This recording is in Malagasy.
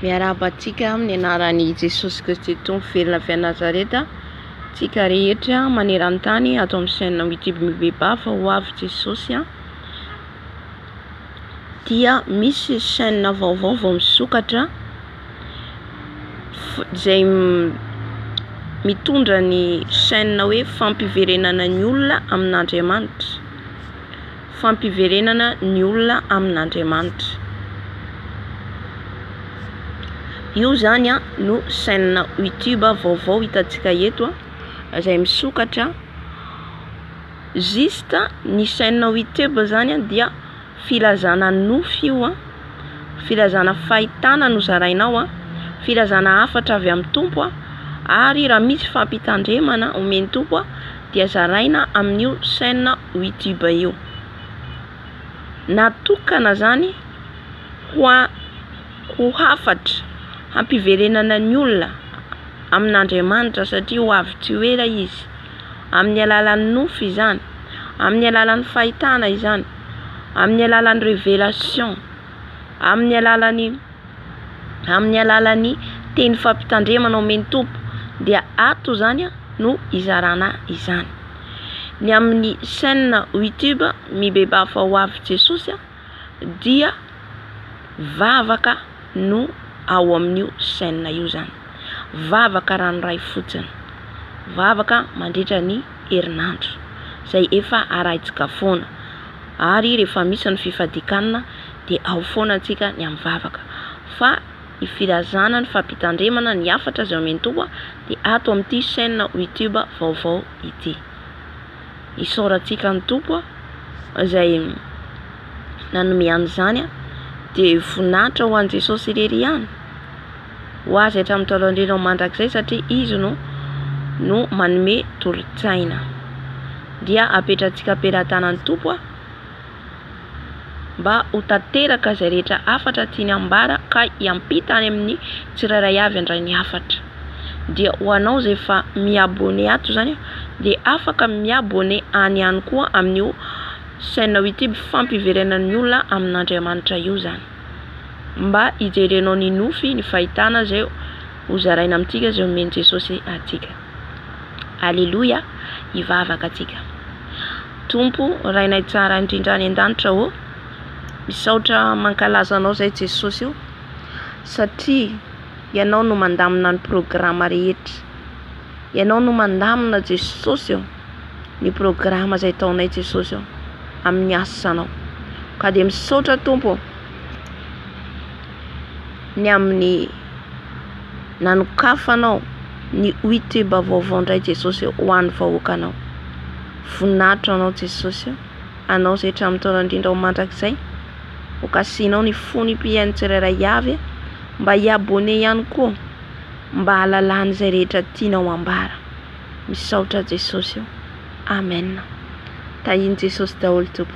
Miarahaba antsika amin'ny anaran'i Jesosy Kristy Tompo velona avy any Nazareta tsika rehetra maneran-tany ato amin'ny chaîne YouTube Mibeba fa ho avy Jesosy an dia misy chaîne vaovao vao misokatra izay mitondra ny chaîne hoe fampiverenana ny olona amin'Andriamanitra fampiverenana ny olona amin'Andriamanitra. Io zany a no chaîne YouTube vaovao hitantsika eto a, izay misokatra juste ny chaîne YouTube zany dia filazana nofy io a, filazana fahitana no zaraina ao a, filazana hafatra avy amin'ny Tompo a, ary raha misy fampitandremana omen'ny Tompo a. dia zaraina amin'io chaîne WeTube io. Natokana zany ho a- ho hafatra hampiverenana ny olona amin'Andriamanitra satria ho avy tsy ho ela izy. Amin'ny alalan'ny nofy izany, amin'ny alalan'ny fahitana izany, amin'ny alalan'ny révélation, amin'ny alalan'ny. amin'ny alalan'ny teny fampitandremana omen'ny Tompo dia ato izany no hizarana izany. Ny amin'ny chaîne YouTube Mibebafo ho avy Jesosy dia vavaka no ao amin'io chaîne io izany. Vavaka ranoray fotsiny. Vavaka mandritra ny herinandro izay efa arahintsika foana. Ary rehefa misy ny fifadikanna dia ao foana antsika ny amin'ny vavaka. Fa ny filazana ny fampitandremana ny hafatra izay omen'i Toa dia ato amin'ity chaîne YouTube vaovao ity. Isaorantsika an'i Tompo izay nanome an'izany dia voninahitra ho an'i Jesosy irery ihany. ho azy hatramin'ny taolan-dreny ao mandrakizay satria Izy no no manome tolo-tsaina. Dia apetrantsika am-pelatanan'ny Tompo a! mba ho tanteraka izay rehetra hafatra tiany hambara ka hiampita any amin'ny tsirairay avy handray ny hafatra. Dia ho anao izay efa mi-abonné ato izany a! dia afaka mi-abonné any ihany koa amin'io chaîne YouTube fampiverenan'ny olona amin'Andriamanitra io izany. Mba hijerenao ny nofy, ny fahitana izay hozaraina amintsika, izay omen'i Jesosy antsika. Aleloia! Hivavaka antsika. Tompo, Rainay tsara indrindra any an-danitra ô, misaotra mankalaza Anao izay Jesosy o, satria Ianao no mandamina ny programa rehetra. Ianao no mandamina Jesosy o. ny programa izay ataonay Jesosy ô amin'ny asanao ka dia misaotra Tompo ô ny amin'ny nanokafanao ny Youtube vaovao indray Jesosy ô ho an'ny vahoakanao voninahitra anao Jesosy ô anao izay hatramin'ny taona indrindra ho mandrakizay hokasihinao ny fon'ny mpihaino tsirairay avy mba hi-abonner ihany koa mba hahalalany izay rehetra tianao ambara Misaotra Jesosy ô! Amen! Tahin'i Jesosy daholo Tompo.